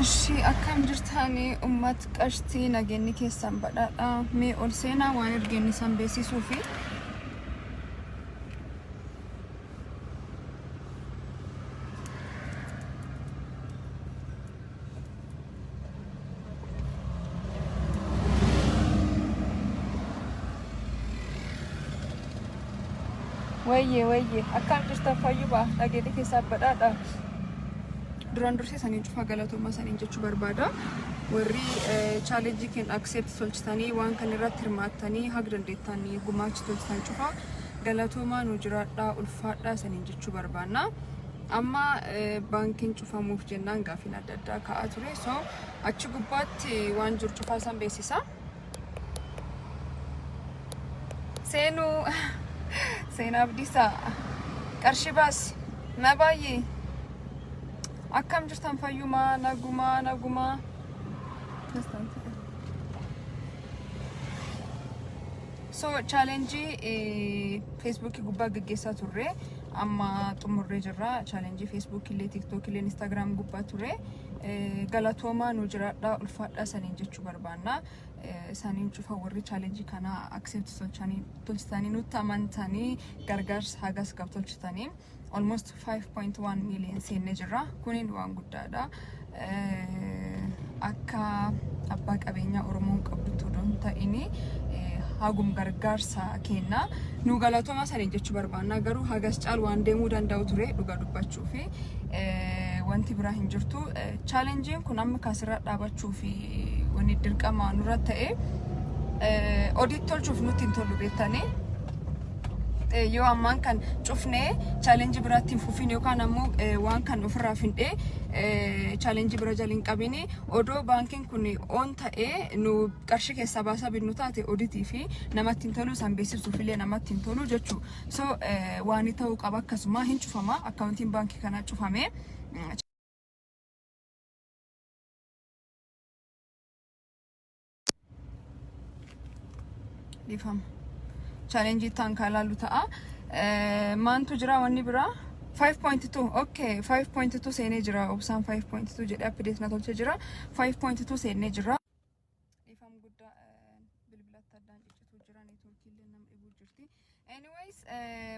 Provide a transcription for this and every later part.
Ashii akkam jirtaani ummat qashtii nageenni keessan badhaadha mee ol seenaa waan ergeenni san beeksisuu fi Wayye wayye akkam jirtan fayyuma nageenni keessan badhaadha. Duraan dursee saniin cufaa galatoomaa saniin jechuu barbaada. Warri chaalenjii keenya akseepti tolchitanii waan kan irratti hirmaattanii haga dandeettan gumaacha tolchitan cufaa galatoomaa nu jiraadhaa ulfaadhaa saniin jechuu barbaanna. Amma eh, baankiin cufamuuf jennaan gaafiin adda addaa ka'aa ture. So achi gubbaatti waan jiru cufaa san beeksisa. Seenuu seenaa abdiisaa qarshii baasi na baay'ee akkam jirtan fayyumaa nagumaa nagumaa so chaalenjii feesbuukii gubbaa gaggeessaa turre amma xumurree jirra chaalenjii feesbuukii illee tiiktookii illee instaagiraam gubbaa ture Eh, galatoomaa nu jiraadhaa ulfaadhaa saniin jechuu barbaanna Eh, saniin cufa warri chaalenjii kana accept tolchanii tolchitanii nutti amantanii gargaarsa hagas gab tolchitanii almost 5.1 million seennee jirra kuniin waan guddaadha Eh, akka abbaa qabeenyaa oromoon qabdutti odoo hin ta'ini eh, hagum gargaarsa kenna nu galatoomaa saniin jechuu barbaanna garuu hagas caal waan deemuu danda'u ture dhugaa dubbachuu dhufe wanti biraa hin jirtu. Chaalenjiin kun amma kaasirraa dhaabachuu fi wanni dirqama nurra ta'e odit tolchuuf nutti hin tolu beektanii. Yoo ammaan kan cufnee chaalenjii biraatti hin fufin yookaan ammoo waan kan ofirraa findhee chaalenjii bira jala hin qabini. Odoo baankiin kun oon ta'ee nu qarshii keessaa baasaa binnu taate oditii fi namatti hin tolu isaan beeksisuuf illee namatti hin tolu jechuudha. So waani ta'uu qaba akkasumaa hin cufamaa akkaawuntiin baankii kanaa cufamee. Dhiifama. Chaalenjii itti aankaa ilaallu ta'a. Maantu jira wanni biraa? 5.2 okay 5.2 seenee jira obsaan 5.2 jedhee update na tolchee jira 5.2 seenee jira Dhiifam guddaa bilbilatti addaan ciccituu jiran neetwoorkiillee nama dhibuu jirti. Anyways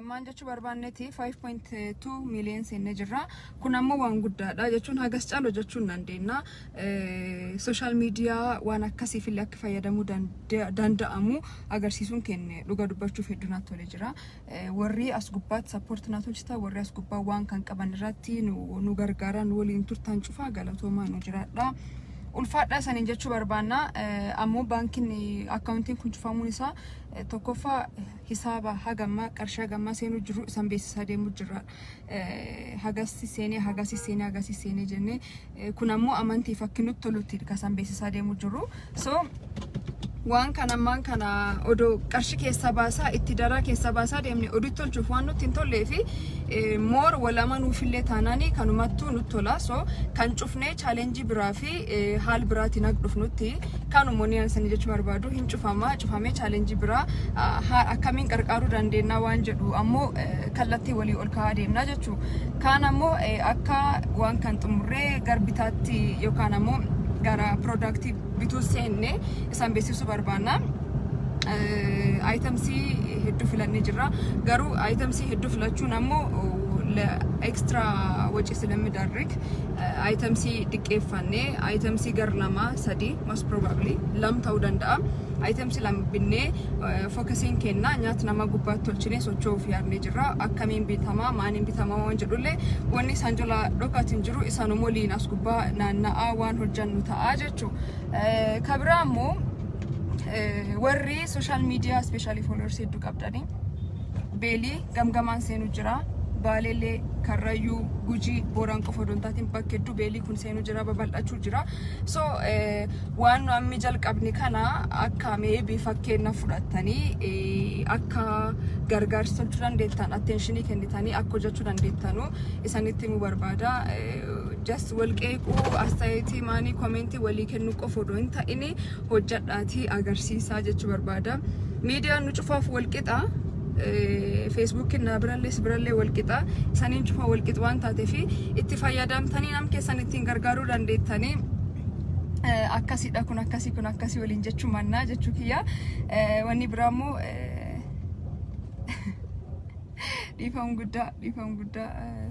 maal jechuu barbaanneeti 5.2 miiliyoon seennee jirra. Kun ammoo waan guddaadha jechuun hagas caalu jechuu hin dandeenya. Sooshaal miidiyaa waan akkasiifillee akka fayyadamuu danda'amu agarsiisuun keenya dhuga dubbachuuf hedduu natti tolee jira. Warrii as gubbaatti support naa tolchitan warri as gubbaa waan kan qaban irratti nu, nu gargaaraa nu waliin turtan cufaa galatoomaa nu jiraadhaa. Ulfaadhaa isaniin jechuu barbaanna. Eh, Ammoo baankiin eh, akkaawuntiin kun cufamuun isaa eh, tokkoffaa eh, hisaaba hagammaa qarshii hagammaa seenuu jiru isan beeksisaa deemuu jirra. eh, hagasi seenee hagasi seenee hagasi seenee jennee eh, kun ammoo amantii fakki nutti tolutti kasan beeksisaa deemu jiru so waan kana ammaan kana odoo qarshi keessa baasaa itti daraa keessa baasaa deemne oduu tolchuuf waan nutti hin tollee fi eh, moor wal amanuufillee taanaanii kanumattuu nutti tola so kan cufnee chaalenjii biraa fi haal biraatiin akka dhufnutti kanuma wanni ani sanii jechuu barbaadu hin cufama cufamee chaalenjii biraa ah, haa- akkamiin qarqaaruu dandeenya waan jedhu ammoo eh, kallattii walii ol kaa'aa deemna jechuu kaan ammoo eh, akka waan kan xumurree gar bitaatti yookaan ammoo gara piroodaaktii bituu seenne isaan beeksisuu barbaanna. Ayitamsii hedduu filannee jirra. Garuu ayitamsii hedduu filachuun ammoo ekstra wacii silammi daarrik itemsii diqqeeffannee itemsii gar lama sadi most probably lam ta'uu danda'a itemsi lam binnee fookasiin kenna nyaata nama gubbaatti tolchinee socho'uuf yaadnee jirra akkamiin bitamaa maaniin bitamaa waan jedhullee wanni isaan jala dhokaatiin jiru isaanum waliin as gubbaa naanna'aa waan hojjannu ta'aa jechuu kabiraa immoo warri sooshaal miidiyaa ispeeshaalii fooloorsi hedduu qabdanii beelii gamgamaan seenu jira. Baaleellee, Karrayyuu, Gujii, Booran qofa odoo hin taatiin bakka hedduu beelii kun seenu jira babal'achuu jira. So eh, waan nu ammi jalqabne kana akka meebi fakkeenna fudhattanii eh, akka gargaarsa tolchuu dandeettan atteenshinii kennitanii akka hojjechuu dandeettanu isanitti himuu barbaada. Eh, Just wal qeequu, astayeetii, maanii, komentii walii kennuu qofa odoo hin ta'ini hojjadhaatii agarsiisaa jechuu barbaada. Miidiyaan nu cufaaf wal qixa. Feesbuukiin naa birallee si birallee wal qixa. Isaniin cufaa wal qixa waan taateef itti fayyadamtanii nam keessan ittiin gargaaruu dandeettanii eh, akkasidha kun akkasii kun akkasii waliin jechuu mannaa jechuu kiyya. Eh, Wanni biraa immoo eh, dhiifama guddaa dhiifama guddaa. eh,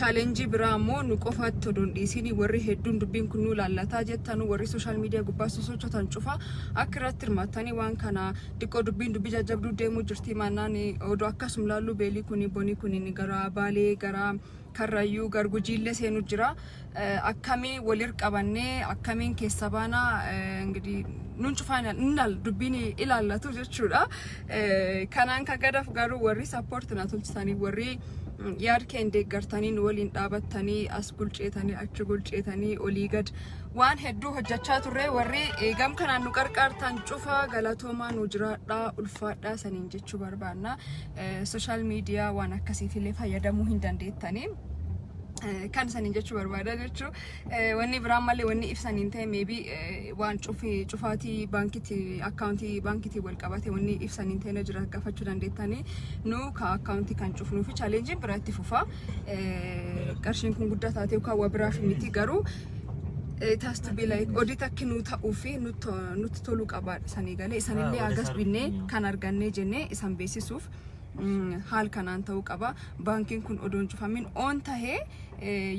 Challenge biraa ammoo nu qofaatti odoo hin dhiisiin warri hedduun dubbiin kun nu laallataa jettanu warri social media gubbaa sosochotan cufa akka irratti hirmaattanii waan kana diqqoo dubbiin dubbii jajjabduu deemuu jirtii maannaan odoo akkasum laalluu beelii kuni bonii kuniin gara baalee gara karrayyuu gar gujiillee seenu jira akkamii walir qabannee akkamiin keessa baana ingidihi nun cufaa innal dubbiin ilaallatu jechuudha. Kanaan kan gadaf garuu warri sappoorti na tolchisanii warri yaad keen deeggartanii nu waliin dhaabattanii as gulceetanii achi gulceetanii olii gad waan hedduu hojjechaa turre warri gam kanaan nu qarqaartan cufaa galatoomaa nu jiraadhaa ulfaadhaa saniin jechuu barbaanna. Sooshaal miidiyaa waan akkasiitillee fayyadamuu hin dandeettanii. kan isaaniin jechuu barbaada jechuu wanni biraan malee wanni ibsaniin ta'e meebi waan cufi cufaatii baankiitti akkaawuntii baankiitiin wal qabate wanni ibsaniin ta'e na jira gaafachuu dandeettanii nu ka akkaawuntii kan cufnuu fi chaaleenjiin biraa itti fufa qarshiin kun guddaa taatee yookaan waa biraaf miti garuu it has to be like odit akki nuu ta'uu fi nutti nutti toluu qabaadha sanii galee isanillee hagas binnee kan argannee jennee isan beeksisuuf haal kanaan ta'uu qaba. Baankiin kun odoon cufamin oon tahee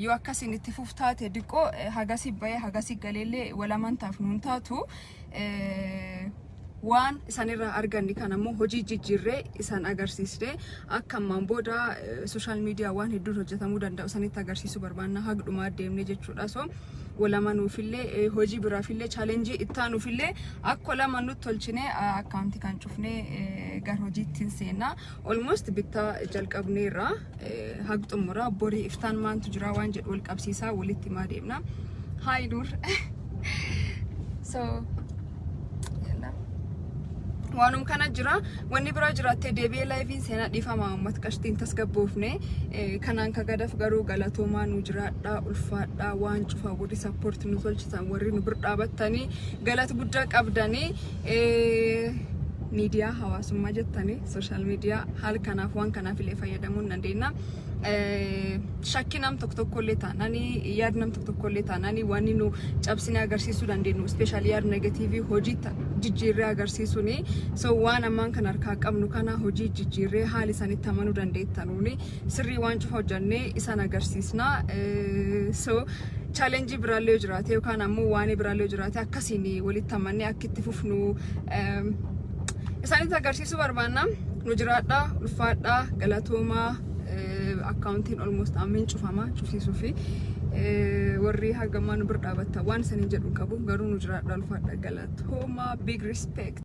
yoo akkasiin itti fuf taate diqqoo hagasi bahee hagasi galeellee walamantaaf nuun taatu waan isanirraa arganne kan ammoo hojii jijjiirree isan agarsiisne akka ammaan booda sooshaal miidiyaa waan hedduun hojjetamuu danda'u isanitti agarsiisuu barbaanna hagdhumaa deemne jechuudha. So walamanuufillee eh, hojii biraafillee chaalenjii ittaanuufillee akka lama nutti tolchinee ah, akkaawuntii kan cufnee eh, gara hojiitti hin seenna. Olmost bittaa jalqabneerra eh, hag xumura borii iftaan maantu jira waan jedhu wal qabsiisaa walitti himaa deemna. Haay dur. so Yallam. waanum kana jira wanni biraa jiraattee deebi'ee laayiviin seenaa dhiifama uummata qashtiin tasgabboofne Eh, kanaan ka gadaf garuu galatoomaa nu jiraadhaa ulfaadhaa waan cufaa warri sappoort nu tolchitan warri nu bir dhaabattanii galata guddaa qabdanii Eh, miidiyaa hawaasummaa jettanii sooshaal miidiyaa haala kanaaf waan kanaaf illee fayyadamuu hin dandeenya Eh, shakkii nam tokko tokko illee taananii yaad nam tokko tokkollee taanaan wanni nu cabsinee agarsiisuu dandeenyu ispeeshaalii yaad negatiivii hojii jijjiirree agarsiisuun so waan ammaan kan harkaa qabnu kana hojii jijjiirree haali isanitti amanuu dandeettanuun sirrii waan cufa hojjannee isaan agarsiisna so chaalenjii biraallee yoo jiraate yookaan ammoo waan biraallee yoo jiraate akkasiin walitti amannee akka itti fufnu isaanitti agarsiisuu barbaanna nu jiraadhaa ulfaadhaa galatoomaa akkaawuntiin olmost ammeen cufama cufsiisuu fi warri hagammaa nu bira dhaabatta waan isaanii jedhu qabu garuu nu jiraadha ulfaadha galatooma big respect.